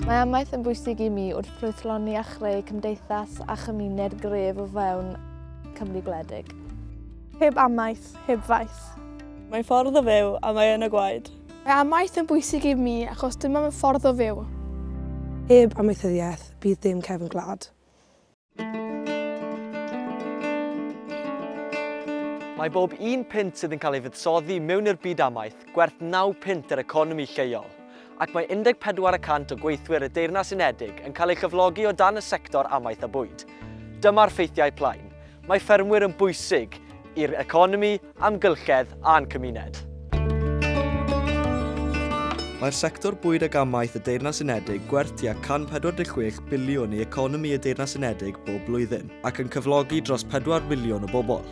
Mae amaeth yn bwysig i mi wrth ffrwythloni a chreu cymdeithas a chymuned gref o fewn Cymru gwledig. Heb amaeth, heb faith. Mae ffordd o fyw a mae yn y gwaed. Mae amaeth yn bwysig i mi achos dyma fy ffordd o fyw. Heb amaethyddiaeth, bydd dim cefn gwlad. Mae bob un punt sydd yn cael ei fuddsoddi mewn i'r byd amaeth gwerth naw punt i'r economi lleol, ac mae 14 y cant o gweithwyr y Deyrnas Unedig yn cael ei chyflogi o dan y sector amaeth a bwyd. Dyma'r ffeithiau plaen. Mae ffermwyr yn bwysig i'r economi, amgylchedd a'n cymuned. Mae'r sector bwyd ag amaeth y Deyrnas Unedig gwerth tua 146 biliwn i economi y Deyrnas Unedig bob blwyddyn, ac yn cyflogi dros 4 filiwn o bobl.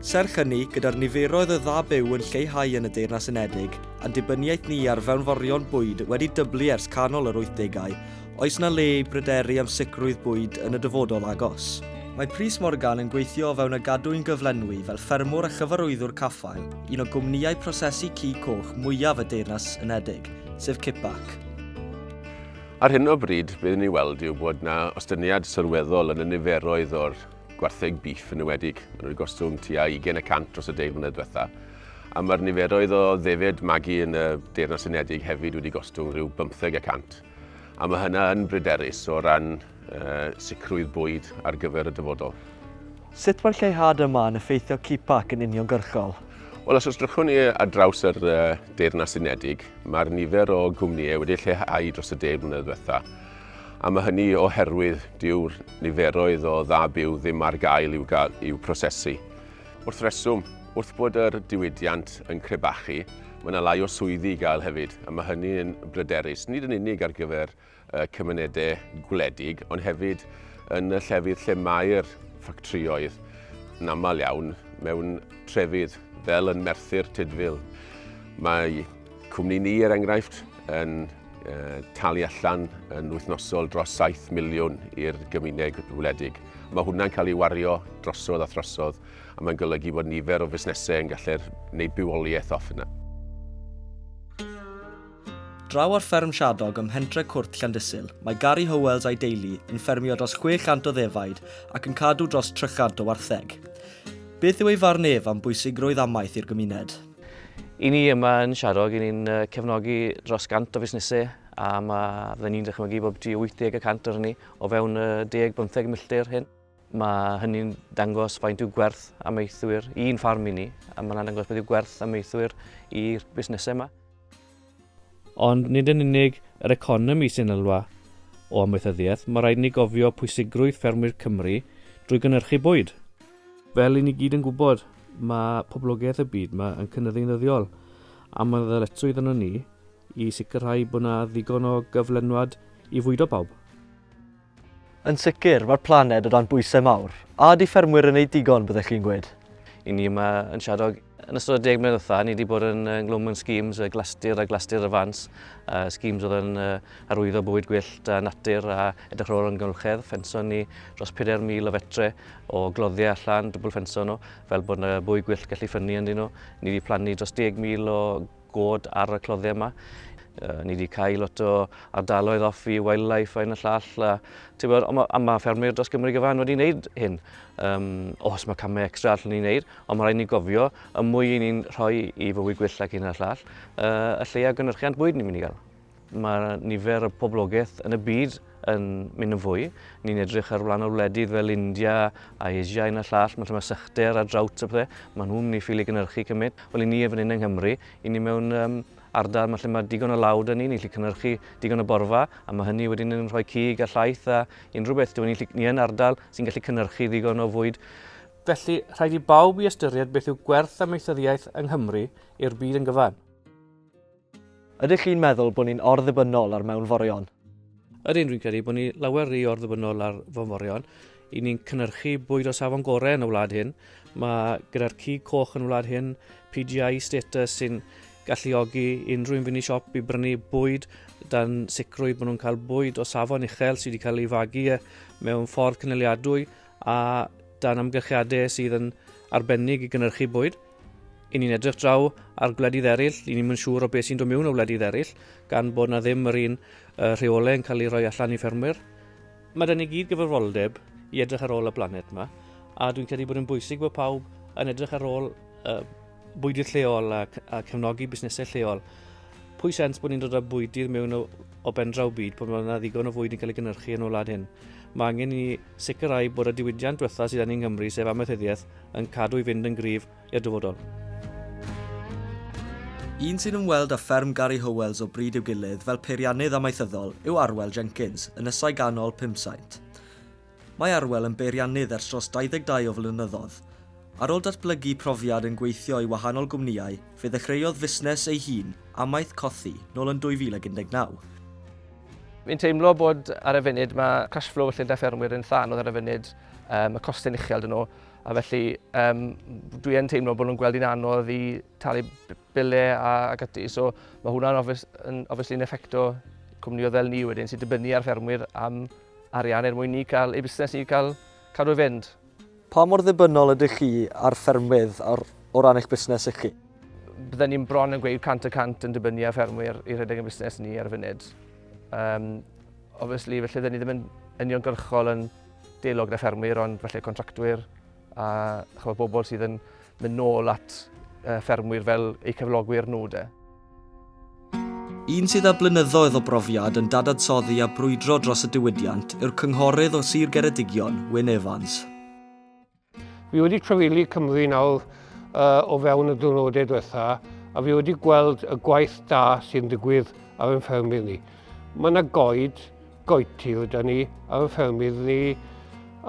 Serch hynny, gyda'r niferoedd o dda byw yn lleihau yn y Deyrnas Unedig, a'n dibyniaeth ni ar fewnforion bwyd wedi dyblu ers canol yr 80au, Oes 'na le i bryderu am sicrwydd bwyd yn y dyfodol agos? Mae Prys Morgan yn gweithio o fewn y gadwyn gyflenwi fel ffermwr a chyfarwyddwr caffael un o gwmnïau prosesu cig coch mwyaf y Deyrnas Unedig, sef Kippac. Ar hyn o bryd, be ni'n weld yw bod 'na ostyngiad sylweddol yn y niferoedd o'r gwartheg bîff yn enwedig. Maen nhw wedi gostwng tua 20 y cant dros y deg mlynedd diwetha. A mae'r niferoedd o ddefed magu yn y Deyrnas Unedig hefyd wedi gostwng rhyw bymtheg y cant. A mae hynna yn bryderus o ran sicrwydd bwyd ar gyfer y dyfodol. Sut mae'r lleihad yma yn effeithio CPAC yn uniongyrchol? Wel, os ysdrychwn ni ar draws yr Deyrnas Unedig, mae'r nifer o gwmnïau wedi lleihau dros y deg mlynedd ddiwetha', a mae hynny oherwydd dyw'r niferoedd o dda byw ddim ar gael i'w prosesu. Wrth reswm, wrth bod yr diwydiant yn crebachu, mae yna lai o swyddi i gael hefyd, a mae hynny yn bryderus, nid yn unig ar gyfer cymunedau gwledig, ond hefyd yn y llefydd lle mae'r ffactrioedd yn aml iawn mewn trefydd fel yn Merthyr Tudful. Mae Cwmni ni, er enghraifft, yn talu allan yn wythnosol dros 7 miliwn i'r gymuned wledig. Mae hwnna'n cael ei wario drosodd a throsodd, a mae'n golygu bod nifer o fusnesau yn gallu gwneud bywoliaeth off yna. Draw ar fferm Shadog ym mhentre Cwrt Llandysul, mae Gary Howells a'i deulu yn ffermio dros 600 o ddefaid ac yn cadw dros 300 o wartheg. Beth yw ei farn ef am bwysigrwydd amaeth i'r gymuned? I ni yma yn Siarog, i ni'n cefnogi dros 100 o fusnesau a mae, fydden ni'n dychmygu bod byti 80 y cant o'r hynny o fewn y 10-15 milltir hyn. Mae hynny'n dangos faint yw gwerth amaethwyr i'n ffarm i ni a mae'n dangos beth yw gwerth amaethwyr i'r busnesau yma. Ond nid yn unig yr economi sy'n elwa o amaethyddiaeth, mae rhaid i ni gofio pwysigrwydd ffermwyr Cymru drwy gynhyrchu bwyd. Fel i ni gyd yn gwybod, mae poblogaeth y byd yma yn cynyddu'n ddyddiol, a mae'n ddyletswydd arnon ni i sicrhau bod yna ddigon o gyflenwad i fwydo pawb. Yn sicr, mae'r planed o dan bwysau mawr. A ydy ffermwyr yn wneud digon, byddech chi'n gweud? I ni yma yn Shadog, yn ystod y deg mlynedd ddiwetha, ni wedi bod yn ynglwm yn schemes y glastir a glastir y fans, uh, schemes oedd yn uh, arwyddo bywyd gwyllt a natur a edrych ar ôl yn gylchedd. Ffenson ni dros 4,000 o fetre o gloddiau allan, dwbl ffenson nhw, fel bod yna bywyd gwyllt gallu ffynnu ynddyn nhw. Ni wedi plannu dros 10,000 o god ar y cloddiau yma. Uh, ni wedi cael lot o ardaloedd off i wildlife yn y llall. A, bod, ond mae, ma ffermwyr dros Gymru gyfan wedi gwneud hyn. Um, os mae camau extra allan ni'n gwneud, ond mae rhaid ni gofio y mwy i ni'n rhoi i fywyd gwyllt ac un o'r llall, uh, y lleia gynhyrchiant bwyd ni'n mynd i gael. Mae nifer y poblogaeth yn y byd yn mynd yn fwy. Ni'n edrych ar wlad wledydd fel India a Asia yn y llall, mae rhywbeth sychder a drought a pethau, mae nhw'n mynd i ffili gynnyrchu cymryd. Wel i ni efo hyn yng Nghymru, i ni mewn um, ardal mae lle mae digon o lawd yn ni, ni'n gallu cynnyrchu digon o borfa, a mae hynny wedyn yn rhoi cig a llaeth a unrhyw beth. Dwi'n ni, ni yn ardal sy'n gallu cynnyrchu ddigon o fwyd Felly, rhaid i bawb i ystyried beth yw gwerth amaethyddiaeth yng Nghymru i'r byd yn gyfan. Ydych chi'n meddwl bod ni'n or-ddibynnol ar mewnforion? Ydyn, rwy'n credu bod ni lawer rhy or-ddibynnol ar fewnforion. I ni'n cynnyrchu bwyd o safon gorau yn y wlad hyn. Mae gyda'r cig coch yn y wlad hyn PGI status sy'n galluogi unrhyw un fynd i siop i brynu bwyd dan sicrwydd bod nhw'n cael bwyd o safon uchel sydd wedi cael ei fagu e mewn ffordd cynaliadwy a dan amgylchiadau sydd yn arbennig i gynnyrchu bwyd. I ni'n edrych draw ar gwledydd eraill, i ni'n mynd siŵr o beth sy'n dod mewn o wledydd eraill, gan bod na ddim yr un uh, rheolau yn cael ei roi allan i ffermwyr. Mae dyn ni gyd gyfrifoldeb i edrych ar ôl y blaned yma, a dwi'n credu bod yn bwysig bod pawb yn edrych ar ôl uh, bwydydd lleol a, a cefnogi busnesau lleol. Pwy sens bod ni'n dod â bwydydd mewn o, o bendraw byd pan mae yna ddigon o fwyd yn cael ei gynnyrchu yn y wlad hyn? Mae angen i Sicrhau bod y diwydiant diwetha sydd angen Nghymru, sef amaethyddiaeth, yn cadw i fynd yn gryf i'r dyfodol. Un sy'n ymweld â fferm Gary Howells o bryd i'w gilydd fel peiriannydd amaethyddol yw Arwel Jenkins, ynysau ganol Pumsaint. Mae Arwel yn beiriannydd ers dros 22 o flynyddoedd. Ar ôl datblygu profiad yn gweithio i wahanol gwmnïau, fe ddechreuodd fusnes ei hun, Amaeth Cothi, nôl yn 2019. Fi'n teimlo bod ar y funud mae cash flow y llundaith ffermwyr yn llan oedd ar y funud, um, y costau'n uchel dyn nhw, a felly um, dwi yn teimlo bod nhw'n gweld hi'n anodd i talu bile a, a gyty, so mae hwnna'n obvious, obviously yn effecto cwmnioedd fel ni wedyn sy'n dibynnu ar ffermwyr am arian er mwyn ni cael, ei busnes ni cael cadw i fynd. Pa mor ddibynnol ydych chi ar ffermwydd o ran eich busnes chi? Bydden ni'n bron yn gweud 100 y cant yn dibynnu ar ffermwyr i rhedeg ein busnes ni ar y funud. Um, obviously, felly bydden ni ddim yn uniongyrchol yn deilog gyda ffermwyr, ond felly contractwyr a chyfod bobl sydd yn mynd nôl at uh, ffermwyr fel eu cyflogwyr nhw de. Un sydd â blynyddoedd o brofiad yn dadansoddi a brwydro dros y diwydiant yw'r cynghorydd o Sir Geredigion, Wyn Evans. Fi wedi trefili Cymru nawr uh, o fewn y diwrnodau diwetha a fi wedi gweld y gwaith da sy'n digwydd ar ein ffermydd ni. Mae yna goed, goetir da ni ar ein ffermydd ni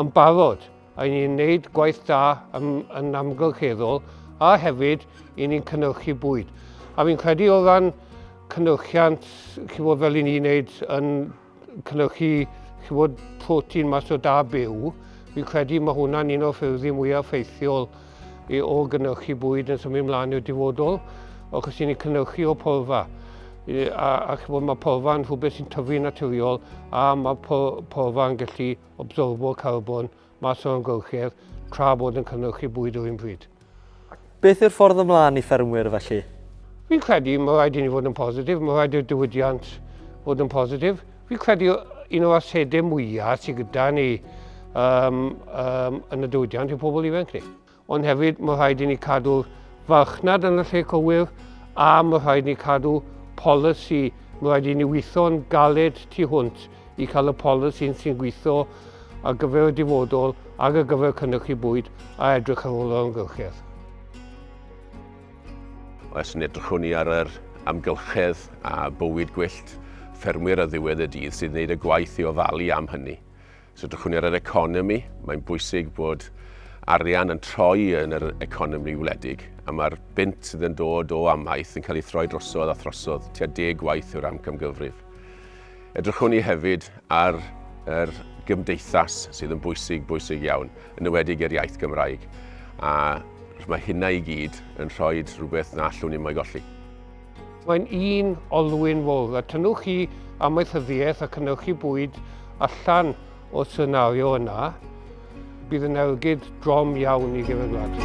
yn barod. I ni'n gwneud gwaith da yn, yn amgylcheddol a hefyd i ni'n cynnyrchu bwyd. A fi'n credu o ran cynnyrchiant, chi fod fel i ni'n gwneud yn cynnyrchu chi fod protein mas o da byw, fi'n credu mae hwnna'n un o'r ffyrdd mwyaf ffeithiol i o gynnyrchu bwyd yn symud ymlaen i'r dyfodol, achos i ni'n cynnyrchu o porfa. a, a chi fod, mae porfa yn rhywbeth sy'n tyfu'n naturiol a mae porfa yn gallu absorbo carbon mas o'r amgylchedd tra bod yn cynhyrchu bwyd yr un pryd. Beth yw'r ffordd ymlaen i ffermwyr felly? Fi'n credu mae rhaid i ni fod yn positif, mae rhaid i'r diwydiant fod yn positif. Fi'n credu un o'r asedau mwyaf sydd gyda ni um, um, yn y diwydiant yw pobl ifanc ni. ond hefyd mae rhaid i ni cadw'r farchnad yn y lle cywir a mae rhaid ni cadw polisi, mae rhaid i ni weithio'n galed tu hwnt i cael y polisi sy'n gweithio ar gyfer y dyfodol ac ar gyfer cynnychu bwyd a edrych ar ôl yr amgylchedd. Os yn edrychwn ni ar yr amgylchedd a bywyd gwyllt ffermwyr ar ddiwedd y dydd sydd wneud y gwaith i ofalu am hynny. Os edrychwn ni ar yr economi, mae'n bwysig bod arian yn troi yn yr economi wledig, a mae'r bunt sydd yn dod o amaeth yn cael ei throi drosodd a throsodd tua deg gwaith yw'r amcamgyfrif. Edrychwn ni hefyd ar yr gymdeithas sydd yn bwysig, bwysig iawn, yn ywedig i'r iaith Gymraeg, a mae hynna i gyd yn rhoi rhywbeth na allwn ni mo'i golli. Mae'n un olwyn fawr a tynnwch chi amaethyddiaeth a cynnwch chi bwyd allan o'r senario yna, bydd yn ergyd drom iawn i gefynwlad.